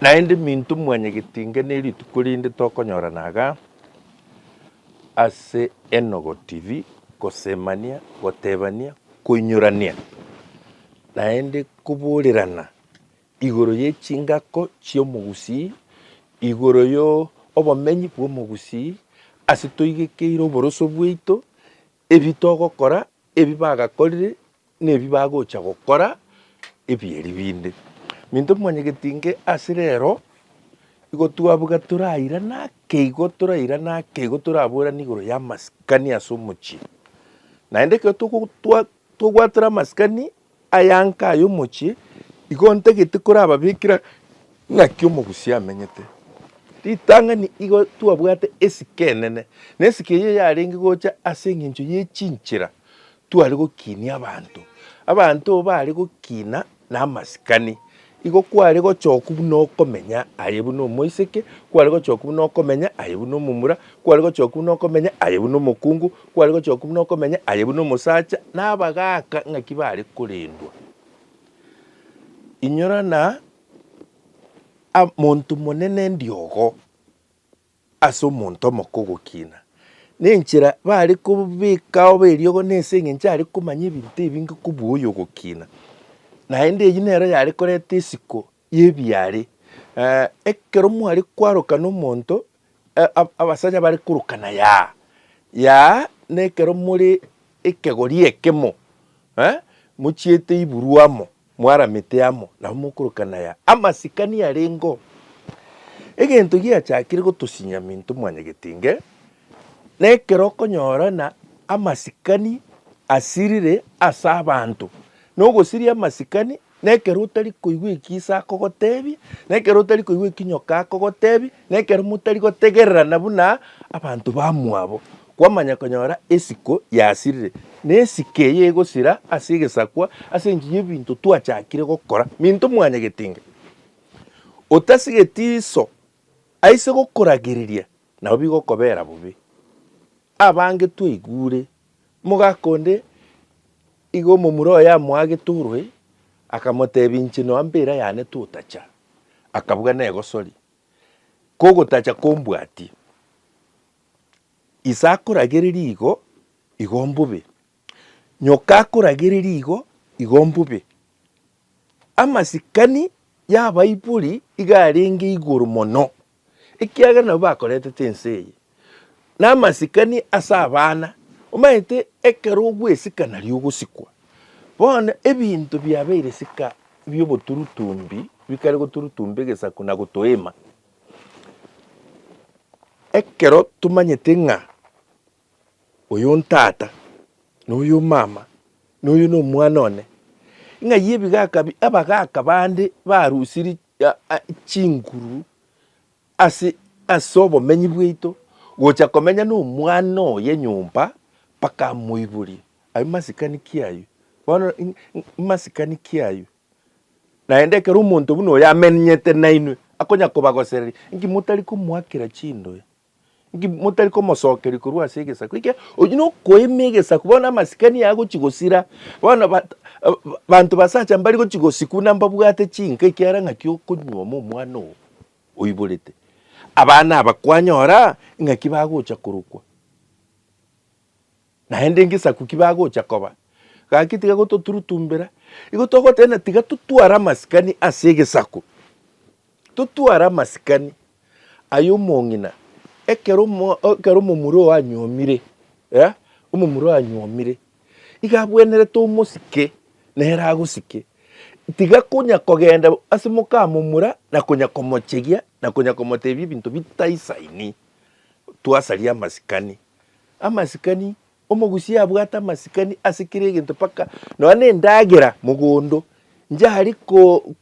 Naende minto mwanyegetinga ne rituko rinde tokonyorana iga ase Enogo TV, gosemania, gotebania, koinyorania, naende koborerana igoro ye chingako chi'omogusii, igoro y'obomenyi bw'omogusii ase toigekeire oboroso bwaito. Ebi togokora, ebi bagakorire, na ebi bagocha gokora, ebi eri binde. Minto mwanyegeti inge ase rero, igo twabuga torairane ake igo, torairane ake igo, toraborane igoro y'amasikani ase omochie. Naende ekero togotwa, tobwatera amasikani, Ayanka aye omochie, igo ntagete korababekera ng'aki omogusia amenyete. Ritang'ani igo twabwate esike enene, na esike eyio yarenge gocha ase engencho ye chinchera tware gokinia abanto. Abanto baare gokina namasikani. Igo kware gochoku buna okomenya aye buna omoiseke, kware gochoku buna okomenya aye buna omomura, kware gochoku buna okomenya aye buna omokungu, kware gochoku buna okomenya aye buna omosacha, na abagaaka ng'aki baare korendwa. Inyora na a- monto monene ndiogo. ase omonto omoke ogokina, na enchera bare kobekao beriogo na ase engencho are komanya ebinto ebinge kobua oyo ogokina. Naende eyio nero yare koreta esiko y'ebiare. Ekero mware kwaroka nomonto, abasacha bare korokana yaa, yaa nekero more ekegori ekemo, mochiete iburwa amo, Mwaramete amo nabo mokorokanaia amasikani arengeo. Egento giachakire gotosinyia Minto Mwanyagetinge nekero okonyorana amasikani asirire ase abanto. Na ogosiria amasikani nekero otari koigwa ekio ise akogotebia, nekero otari koigwa ekio nyoka akogotebia, Na ekero motari gotegererana buna abanto bamwabo, kwamanya konyora esiko yasirire, na esiko eye egosira ase egesakwa ase enchera y'ebinto twachakire gokora. Minto mwanyagete inga, otasigeti iso aise gokoragereria, nabo bigokobera bobe. Abange twaigure, omogaka onde iga omomura oye amoagete orue, akamotebia inche noa mbera yane totacha, akabuga negosoria. kogotacha kombwatie. Ise akoragereria igo, igo mbobe. Nyoka akoragereria igo, igo mbobe. Amasikani y'abaibori igo arenge igoro mono, ekiagera nabwo bakoretete ense eye. namasikani ase abana, omanyete ekero ogwesika nario ogosikwa. Bono ebinto biabeire sika bioboturutumbi bikare goturutumba egesaku na gotoema. Ekero tomanyete ng'a oyo ntata, na oyo omama, na oyo na omwana one, ng'ai ebigaka abagaka bande barusirie chinguru Ase ase obomenyi bwaito gocha komenya nomwana oye nyomba mpaka amoiborie aye masikani ki ayio bono masikani ki ayio naende ekero omonto buna oyo amenyete nainwe akonya kobagosereri inki motari komoakera chindoe Inki motari komosokeria korwa ase egesaku eke? Oyio nokoima egesaku, bono amasikani aya agochi gosira, bono banto basacha mbari gochi gosikuna mbabwate chinka ekiara ng'aki okonyuoma omwana oo oiborete. Abana aba kwanyora ng'aki bagocha korokwa. naende ngesaku ki bagocha koba. Gaki tiga gototurutumbera, igo togotena tiga totware amasikani ase egesaku, totware amasikani ay'omong'ina ekero ekero omomura oo anyuomire, eh, omomura oo anyuomire, iga abwenerete omosike nere agosike. Tiga konya kogenda ase mokamomura na konya komochegia na konya komotebia ebinto bitaisaini, twasaria amasikani. amasikani, omogusi abwate amasikani ase kera egento mpaka nonya na endagera mogondo inche aria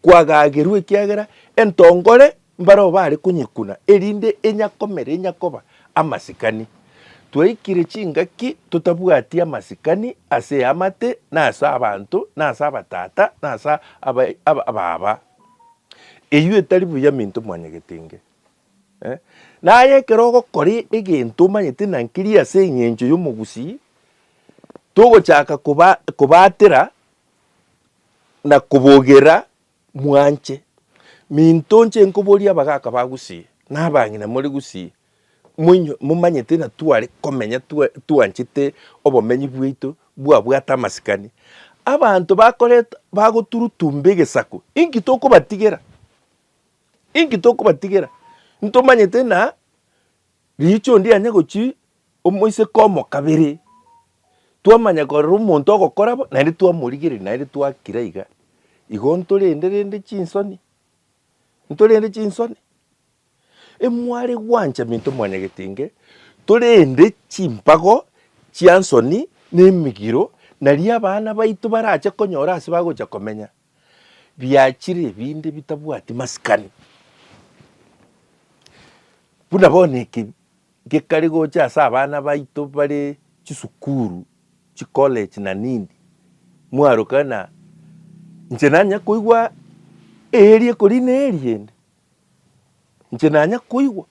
kwagagerwa ekiagera entongore mbareo bare konyekuna erinde enyakomera enyakoba amasikani. Twaikire chingaki totabwati amasikani ase eamate na ase abanto na ase abatata na ase ababa. Eyio etari buya minto mwanyegetenge. Naye ekero ogokora egento omanyete ng'a nkeria ase eng'encho y'omogusii, togochaka kobatera na kobogera mwanche. Minto nche nkoboria abagaka ba gusii na abang'ina more gusii, momanyete ng'a tware komenya twanchete obomenyi bwaito bwabwate amasikani. Abanto bagoturutumba egesaku, inki tokobatigera? Inki tokobatigera? Ntomanyete ng'a riicho onde yanya gochia omoiseke omo kabere, twamanya korora omonto ogokora bo, naende twamorigereria naende twakira iga, igo ntorende rende chinsoni? Ntorende chinsoni? Emware gwancha minto mwanyagetenge, torende chimpago chia nsoni na emigiro naria abana baito barache konyora ase bagocha komenya. biachire ebinde bitabwati masikani. Buna bono eke gekare gocha ase abana baito bare chisukuru, chicollege na nini, mwaruka ng'a inche nanya koigwa eeri ekori na eeri ende, inche nanya koigwa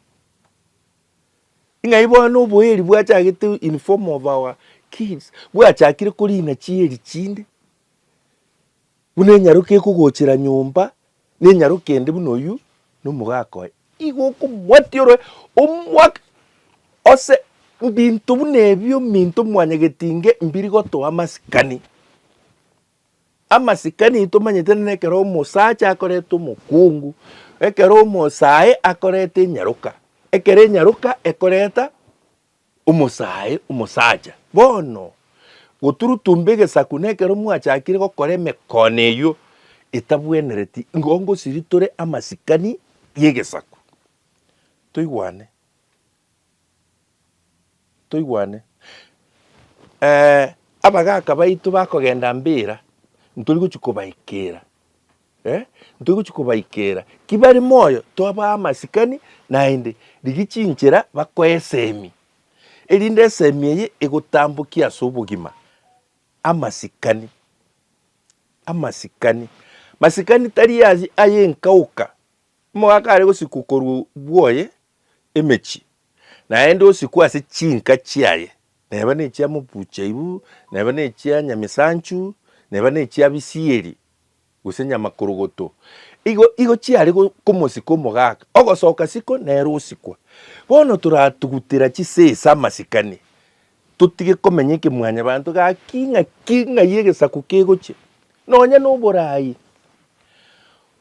ng'ai bono oboeri bwachagete in form of our kids, bwachakire korina chieri chinde. buna enyaroka ekogochera nyomba, na enyaroka ende buna oyio na omogaka oye, igo okomoatiorwe omwaka ase mbinto buna ebio minto mwanyagetinge mbiri gotoa amasikani. Amasikani tomanyete na ekero omosacha akoreta omokungu, ekero omosae akoreta enyaroka, ekero enyaroka ekoreta omosae omosacha. Bono, goturutumba egesaku nekero mwachakire gokora emekono eyio etabwenereti, igo ngosiri tore amasikani y'egesaku. Toigwane. Toigwane. Ee, abagaaka baito bakogenda mbera, ntori gochia kobaikera. Eh, ntoigochia kobaikera ki bari moyo twabaa amasikani naende, rigia chinchera bakoe esemi, erinde esemi eye egotambokie ase obogima. Amasikani, amasikani, masikani tari aye aye enkaoka, omogaka are gosikwa korwa bwoye emechie, naende osikwe ase chinka chiaye, neba nechia mobuchaibu, neba nechia nyamisanchu, neba nechia bisieri, gose nyamakorogoto, igo igo chiare go komosika omogaka, ogosoka siko nere osikwa. Bono toratugutera chisesa amasikani, totige komenya ekemwanyabanto, gaki ng'aki ng'ai egesaku kegochia. Nonya noborai,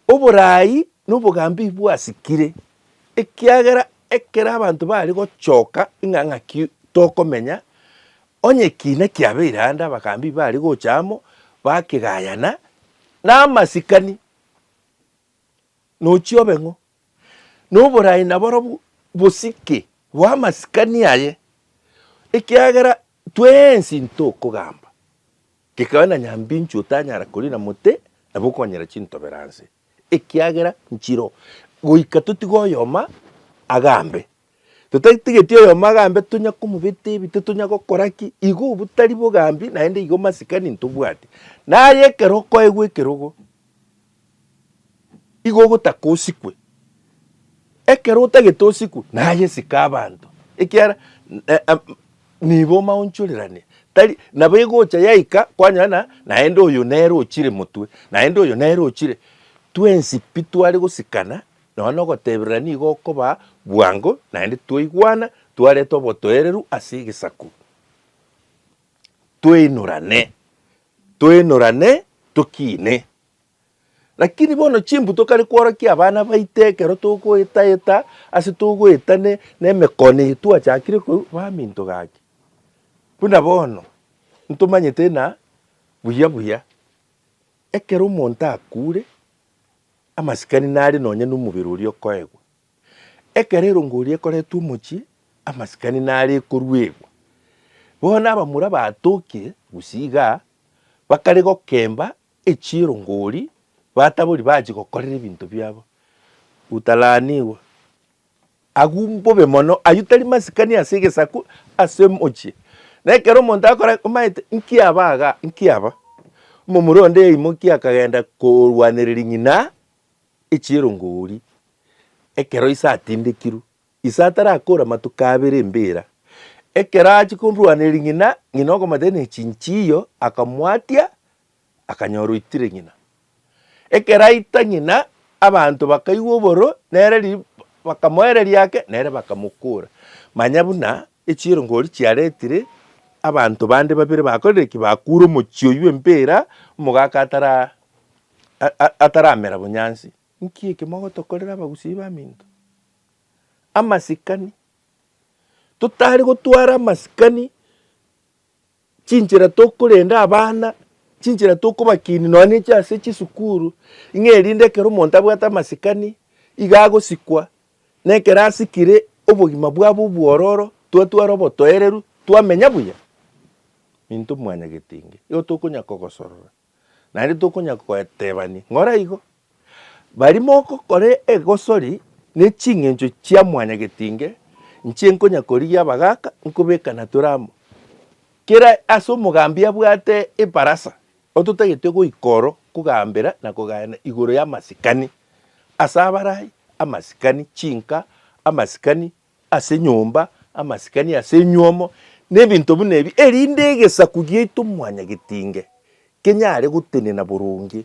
oborai nobogambi bwasikire, ekiagera ekero abanto bari gochoka ng'a ng'aki tokomenya, onye ekiina kiabeire ande abagaambi bari gocha amo bakegayana na amasikani, nochia obe ng'o? Na oboraai na borobwo bosike bw'amasikani aye, ekiagera twensi ntokogamba, gekabe na nyambinchu otanyara koriina mote, nabo okonyera chintobero anse. ekiagera nchiro goika totige oyoma agambe. Totatigeti oyoma agambe tonya komobeta ebite tonya gokora ki, igo obotari bogambi naende igo masikani ntobwati. Naye ekero okoegwa ekerogo, igo ogotaka osikwe, ekero otagete osikwe naye sika abanto ekiara Nigo omaonchoreranie, tari nabo egocha yaika kwanyora na naende oyo nere ochire motwe, naende oyo nere ochire. Twensi pi tware gosikana nonya nogoteberera nigo okoba bwango naende twaigwana twareta obotoereru ase egesaku. Toinorane, toinorane tokiine. Lakini bono chimbu tokare kworokia abana baito ekero togoeta-eta ase togoeta ne nemekono eye twachakire korwa baminto gaki. Buna bono, ntomanyete ng'a buya buya ekero omonto akure, amasikani nare nonye na omobere oria okoegwa. Ekero erongo eria ekoretwe omochie, amasikani nare ekoruegwa. Bono abamura batokire gusii igaa, bakare gokemba Echirongori, batabori bachia gokorera ebinto biabo, utalaaniwe. Agwo mbobe mono, ayio tari masikani ase egesaku ase omochie. Na ekero omonto akorora omanyete nki aba iga, nki aba, omomura onde yaimokia akagenda korwanereria ng'ina echirongori ekero ise atindekirwe. Ise atarakore amatuko abere embira. Ekero achia korwaneria ring'ina, ng'ina okomata ne chinchiyo akamwatia, akanyora oitire ng'ina. Ekero aita ng'ina, abanto bakaigwa oboro, nere ri bakamoereria ake, nere bakamokora. Manya buna echiirongori chiaretire abanto bande babere bakorire ki? Bakure omochie oyio embira, omogaka atara a- a- ataramera bonyansi. Nki eke mogotokorera abagusii b'aminto? amasikani, totari gotwara amasikani chinchera tokorenda abana, chinchera tokobakinia nonya ne inche ase chisukuru, ng'a erinde ekero omonto abwate amasikani iga agosikwa, na ekero asikire obogima bwabo obwororo twatwara obotoereru twamenya buya. Minto mwanyagetinga, igo tokonyara kogosorora. naende tokonyara koetebania, Ng'ora igo. Baria mogokora egosori ne ching'encho chia mwanyagetinge, inche nkonya korigia abagaka, nkobeka natore amo. Kera ase omogambi abwate ebarasa, ototagete goika oro kogambera na kogayana igoro y'amasikani, ase abaraai, amasikani, chinka, amasikani, ase nyomba, amasikani ase enyuomo, na ebinto buna ebi, erinde egesaku giaito mwanyagetinge kenyare gotenena boronge,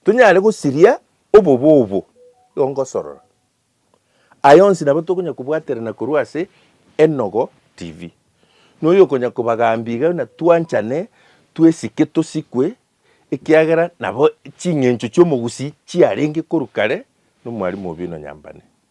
tonyare gosiria obobe obo igo ngosorora. Aya onsi nabo tokonya kobwaterana korwa ase Enogo TV. Noyo okonya kobagambia iga na twanchane, twesike tosikwe, ekiagera nabo ching'encho chi'omogusi chiarenge korwa kare nomwarimu obe ino nyambane.